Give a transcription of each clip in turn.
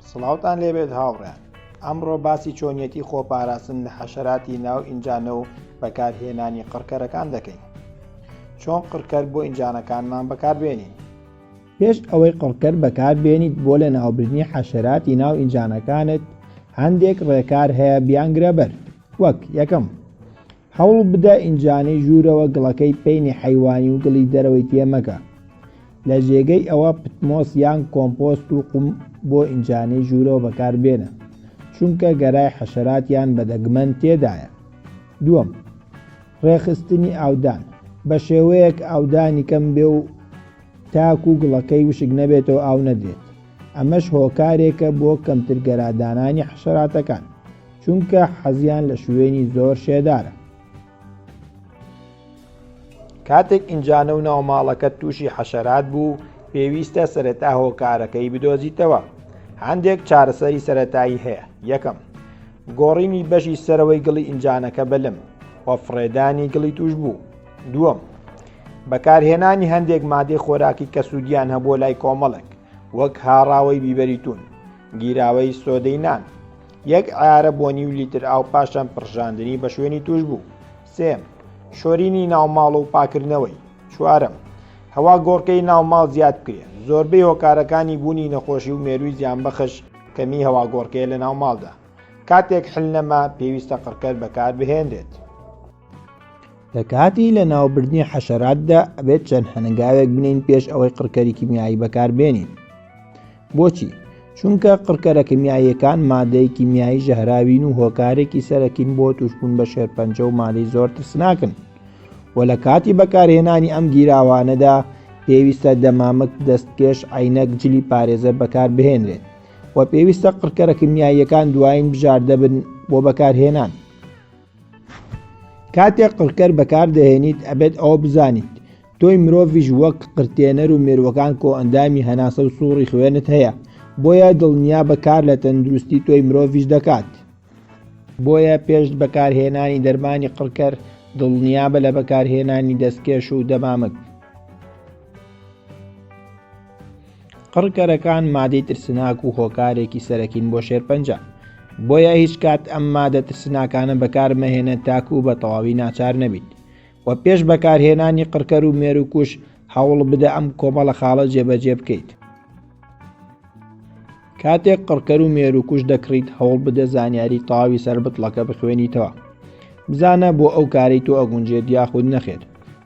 سڵاوتان لێبێت هاوڕێیان ئەمڕۆ باسی چۆنیەتی خۆپاراستن لە حەشەراتی ناو ئینجانە و بەکارهێنانی قڕکەرەکان دەکەین چۆن قڕکەر بۆ ئینجانەکانمان بەکاربێنین پێش ئەوەی قڕکەر بەکاربێنیت بۆ لە ناوبردنی حەشەراتی ناو ئینجانەکانت هەندێک ڕێکار هەیە بیانگرە بەر وەک یەکەم هەوڵ بدە ئینجانی ژوورەوە گڵەکەی پەینی حەیوانی و گڵی دەرەوەی تێ مەکە. لە جێگەی ئەوە پتمۆس یان کۆمپۆست و قوم بۆ ئینجانی ژوورەوە بەکار بێنە، چونکە گەرای حەشەرات یان بەدەگمەن تێدایە. دووەم، ڕێکخستنی ئاودان، بە شێوەیەک ئاودانی کەم بێ و تاکو گڵەکەی وشک نەبێتەوە ئاو نەدرێت، ئەمەش هۆکارێکە بۆ کەمتر گەرا دانانی حەشەراتەکان. چونکە حەزیان لە شوێنی زۆر شێدارە. کاتێک ئینجانە و ناوماڵەکە تووشی حەشەرات بوو پێویستە سەرەتا هۆکارەکەی بدۆزیتەوە هەندێک چارەسەری سەتایی هەیە یەکەم گۆڕینی بەشی سەرەوەی گڵی ئینجانەکە بەلم و فڕێدانی گڵی توش بوو دووەم بەکارهێنانی هەندێک مادەی خۆراکی کە سوودیان هەبوو لای کۆمەڵک وەک هاڕاوەی بیبەریتون گیراوەی سۆدەی نان یەک عیارە بۆ نیو لیتر ئاو پاشان پڕژاندنی بە شوێنی توش بوو سێم شۆرینی ناوماڵ و پاکردنەوەی چوارم هەوا گۆڕکەی ناوماڵ زیاد بکرێن زۆربەی هۆکارەکانی بوونی نەخۆشی و مێروی زیان بەخش کەمی هەوا گۆڕکەیە لە ناوماڵدا کاتێک حل نەما پێویستە قڕکەر بەکار بهێنرێت لە کاتی لە ناوبردنی حەشەراتدا ئەبێت چەند هەنگاوێک بنین پێش ئەوەی قڕکەری کیمیایی بەکاربێنین بۆچی؟ چونکە قڕکەرە کمیاییەکان مادەی کیمیایی ژەهراوین و هۆکارێکی سەرەکین بۆ تووشبوون بە شێرپەنجە و مادەی زۆر ترسناکن و لە کاتی بەکارهێنانی ئەم گیراوانەدا پێویستە دەمامک، دەستکێش، عەینەک، جلی پارێزەر بەکاربهێنرێت و پێویستە قڕکەرە کمیاییەکان دوایین بژاردە بن بۆ بەکارهێنان. کاتێک قڕکەر بەکاردەهێنیت ئەبێت ئەوە بزانیت تۆی مرۆڤش وەک قرتێنەر و مێروەکان کۆ ئەندامی هەناسە و سوڕی خوێنت هەیە بۆیە دڵنیا بەکار لە تەندروستی تۆی مرۆڤش دەکات بۆیە پێش بەکارهێنانی دەرمانی قڕکەر دڵنیابە لە بەکارهێنانی دەستکێش و دەمامک قڕکەرەکان مادەی ترسناک و هۆکارێکی سەرەکین بۆ شێرپەنجە بۆیە هیچ کات ئەم مادە ترسناکانە بەکارمەهێنە تاکو و بە تەواوی ناچار نەبیت و پێش بەکارهێنانی قڕکەر و مێر و کوش هەوڵ بدە ئەم کۆمەڵە خاڵە جێبەجێ بکەیت کاتێک قڕکەر و مێروکوش دەکڕیت هەوڵ بدە زانیاری تەواوی سەر بتڵەکە بخوێنیتەوە بزانە بۆ ئەو کارەی تۆ ئەگونجێت یاخود نەخێر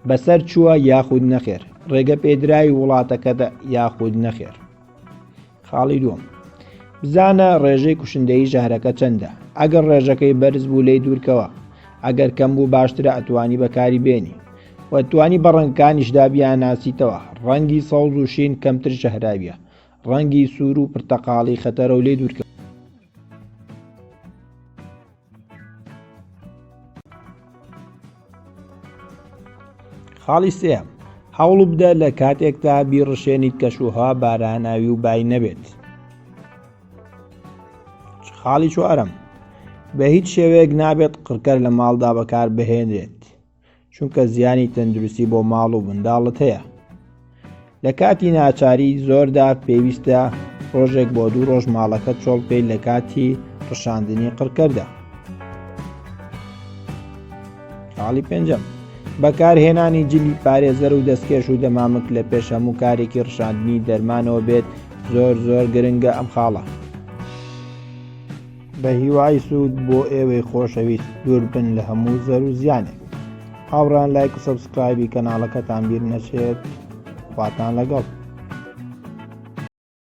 بەسەر چووە یاخود نەخێر ڕێگە پێدراوی وڵاتەکەدا یاخود نەخێر خاڵی دووەم بزانە ڕێژەی کوشندەی ژەهرەکە چەندە ئەگەر ڕێژەکەی بەرز بوو لی دوورکەوە ئەگەر کەم بوو باشترە ئەتوانی بەکاری بێنی وەتوانی بە ڕەنگکانیشدا بیانناسیتەوە ڕەنگی سەوز و شین کەمتر ژەهراویە ڕەنگی سوور و پرتەقاڵی خەتەرە و لێ دوورکە خاڵی سێ هەوڵ بدە لە کاتێکدا بیڕشێنیت کەشوها باراناوی و بای نەبێت خاڵی چوارم بە هیچ شێوەیەک نابێت قڕکەر لە ماڵدا بەکار بهێنرێت چونکە زیانی تەندروستی بۆ ماڵ و منداڵت هەیە لە کاتی ناچاری زۆردا پێویستە ڕۆژێک بۆ دوو ڕۆژ ماڵەکە چۆڵ پێی لە کاتی ڕشاندنی قڕکەدا خاڵی پێنجەم بەکارهێنانی جلی پارێزەر و دەستکێش و دەمامک لە پێش هەموو کارێکی ڕشاندنی دەرمانەوە بێت زۆر زۆر گرنگە ئەم خاڵە بە هیوای سوود بۆ ئێوەی خۆشەویست دووربن لە هەموو زەر و زیانێک هاوڕان لایک و سەبسکرایبی کەناڵەکەتان بیر نەچێت خواتان لەگەڵ